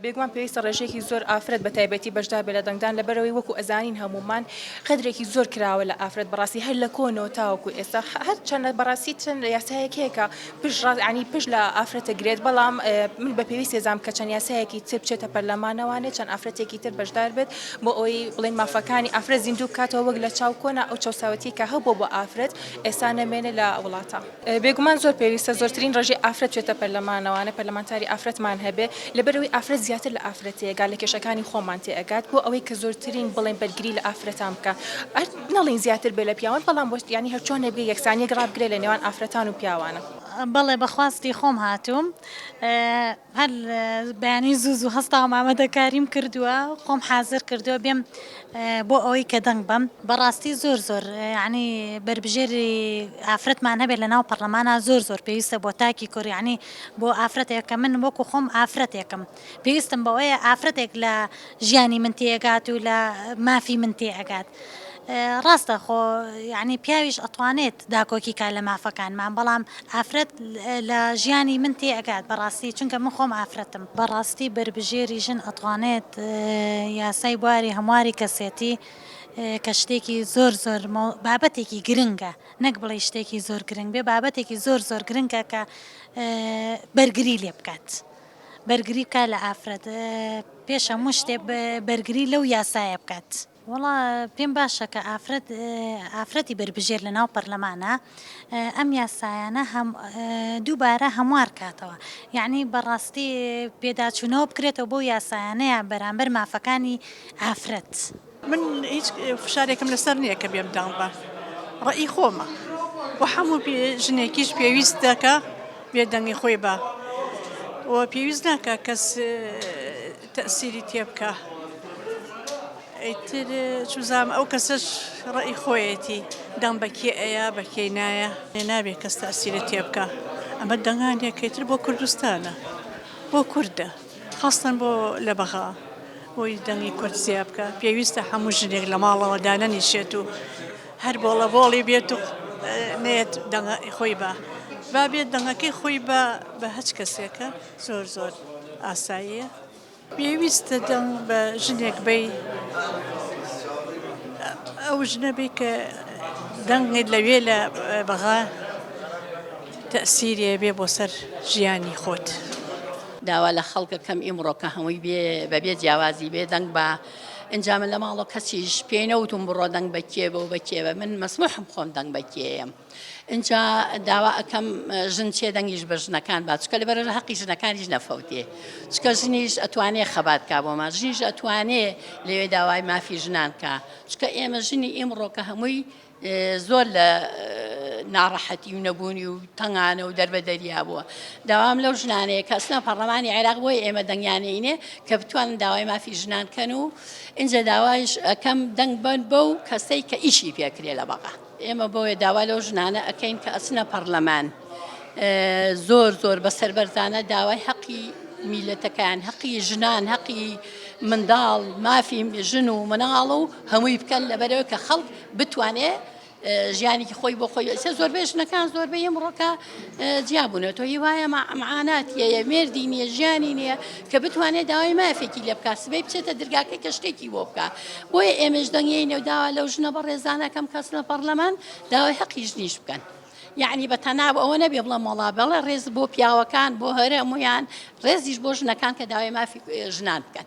بێگومان پێویستە ڕێژەیەکی زۆر ئافرەت بە تایبەتی بەشدار بێت لە دەنگدان لەبەرەوەی وەکو ئەزانین هەمومان قەدرێکی زۆر کراوە لە ئافرەت بەڕاستی هەر لە کۆنەوە تاوەکو ئێستا هەر چەندە بەڕاستی چەند یاسایەک هەیە کە پشت ڕاز عنی پشت لە ئافرەت دەگرێت بەڵام من بە پێویست هێزام کە چەند یاسایەکی تر بچێتە پەرلەمانەوانێ چەند ئافرەتێکی تر بەشدار بێت بۆ ئەوەی بڵین مافەکانی ئافرەت زیندوو بکاتەوە وەک لە چاو کۆنا ئەو چەساوەتیکە هەبوو بۆ ئافرەت ئێستا نەمێنێ لە وڵاتە بێگومان زۆر پێویستە زۆرترین ڕێژەی ئافرەت چێتە پەرلەمانەوانە پەرلەمانتاری ئافرەتمان هەبێ لەبەرەوەی ئافرەت زیاتر لە ئافرەتەیە گا لە کێشەکانی خۆمان تێ ئەگات بۆ ئەوەی کە زۆرترین بڵێن بەرگری لە ئافرەتان بکە ئەر نەڵین زیاتر بێ لە پیاوان بەڵام بۆست یانی هەرچۆنێ بێ یەکسانیەک ڕابگرێ لە نێوان ئافرەتان و پیاوانە. بەڵێ بەخواستی خۆم هاتووم. هەر بەیانی زوو زوو هەستاوم ئامادەکاریم کردووە خۆم حازر کردووە بێم بۆ ئەوەی کە دەنگ بەم بەڕاستی زۆر زۆر ینی بربژێری ئافرەتمان هەبێت لە ناو پەرلەمانە زۆر زۆر پێویستە بۆ تاکی کۆریانی بۆ ئافرەتێکە من وەکو خۆم ئافرەتێکم پێویستم بەوەیە ئافرەتێک لە ژیانی من تێ ئەگات و لە مافی من تێ ئەگات ڕاستە خۆ یعنی پیاویش ئەتوانێت داکۆکی کا لە مافەکانمان بەڵام ئافرەت لە ژیانی من تێ ئەگات بەڕاستی چونکە من خۆم ئافرەتم بەڕاستی بەربژێری ژن ئەتوانێت یاسای بواری هەمواری کەسێتی کە شتێکی زۆر زۆر بابەتێکی گرنگە نەک بڵێ شتێکی زۆر گرنگ بێ بابەتێکی زۆر زۆر گرنگە کە بەرگری لێ بکات. بەرگری بکات لە ئافرەت پێش هەموو شتێ بەرگری لەو یاسایە بکات. وەڵا پێم باشە کە ئافرەت ئافرەتی بەربژێر لە ناو پەرلەمانە ئەم یاسایانە دووبارە هەموار کاتەوە یعنی بەڕاستی پێداچوونەوە بکرێتەوە بۆ یاسایانەیە بەرامبەر مافەکانی ئافرەت. من هیچ فشارێکم لەسەر نییە کە بێم داڵ بە ڕێی خۆمە و هەموو ژنێکیش پێویست دەکە بێدەنگی خۆی بە و پێویست ناکە کەس تەسیری تێ بکە ئەیتر چوزام ئەو کەسەش ڕێی خۆیەتی دەم بەکێ ئەیە بەکەی نایە نابێت کەس تەسیرە تێ بکە ئەمە دەنگانێکەیتر بۆ کوردستانە بۆ کووردە خەستن بۆ لە بەغا بۆی دەنگی کورد زیا بکە پێویستە هەموو ژنێک لە ماڵەوە دانەنیشێت و هەر بۆڵە بۆڵی بێت و نێت دەنگە خۆی بە با بێت دەنگەکەی خۆی بە بە هەچ کەسێکە زۆر زۆر ئاساییە پێویستە دەنگ بە ژنێک بی ئەو ژنەبی کە دەنگێت لەوێ لە بەغا تەسیرێ بێ بۆ سەر ژیانی خۆت. داوا لە خەڵکەکەم ئیمڕۆکە هەمووی بێ بەبێ جیاوازی بێ دەنگ بە ئەنجا من لە ماڵۆ کەسیش پێی نەوتم بڕۆ دەنگ بە کێ بە و بە کێ بە من مەسموحم خۆم دەنگ بە کێم ئینجا داوا ئەەکەم ژن چێ دەنگیش بە ژنەکان با چکە لە بەرەژە حەقی ژنەکانیش نەفەوتێ چکە ژنیش ئەتوانێ خەبات کا بۆمان ژنیش ئەتوانێ لەوێ داوای مافی ژنان کا چکە ئێمە ژنی ئیمڕۆکە هەمووی زۆر لە ناڕەحەتی و نەبوونی و تەنگانە و دەربەدەریا بووە داوام لەو ژنانەیە کە ئەسنا پەرلەمانی عێراق بۆی ئێمە دەنگیانەینێ کە بتوانن داوای مافی ژنان کەن و ئینجا داوایش ئەەکەم دەنگ بن بە و کەسەی کە ئیشی پێکرێ لە بەغا ئێمە بۆیە داوا لەو ژنانە ئەەکەین کە ئەسنە پەرلەمان. زۆر زۆر بە سەربەرزانە داوای حەقی میلەتەکان حەقی ژنان حەقی منداڵ مافی ژن و مناڵ و هەمووی بکەن لەبەرەوە کە خەڵک بتوانێت ژیانێکی خۆی بۆ خۆی ئەسە زۆربەی ژنەکان زۆربەی ئەمڕۆکە جیابوونە تۆ هی وایە معانات یەیە مێردی نییە ژیانی نییە کە بتوانێت داوای مافێکی لە بکات سبەی بچێتە درگاکە کە شتێکی بۆ بکە بۆیە ئێمەش دەنگی نەوداوا لەو ژنە بە ڕێزانەکەم کەس لە پەرلەمان داوای حەقی ژنیش بکەن. یەعنی بە تەناب ئەوە نەبێ بڵێم وەڵا بەڵێ ڕێز بۆ پیاوەکان بۆ هەرەمویان ڕێزیش بۆ ژنەکان کە داوای مافی ژنان بکەن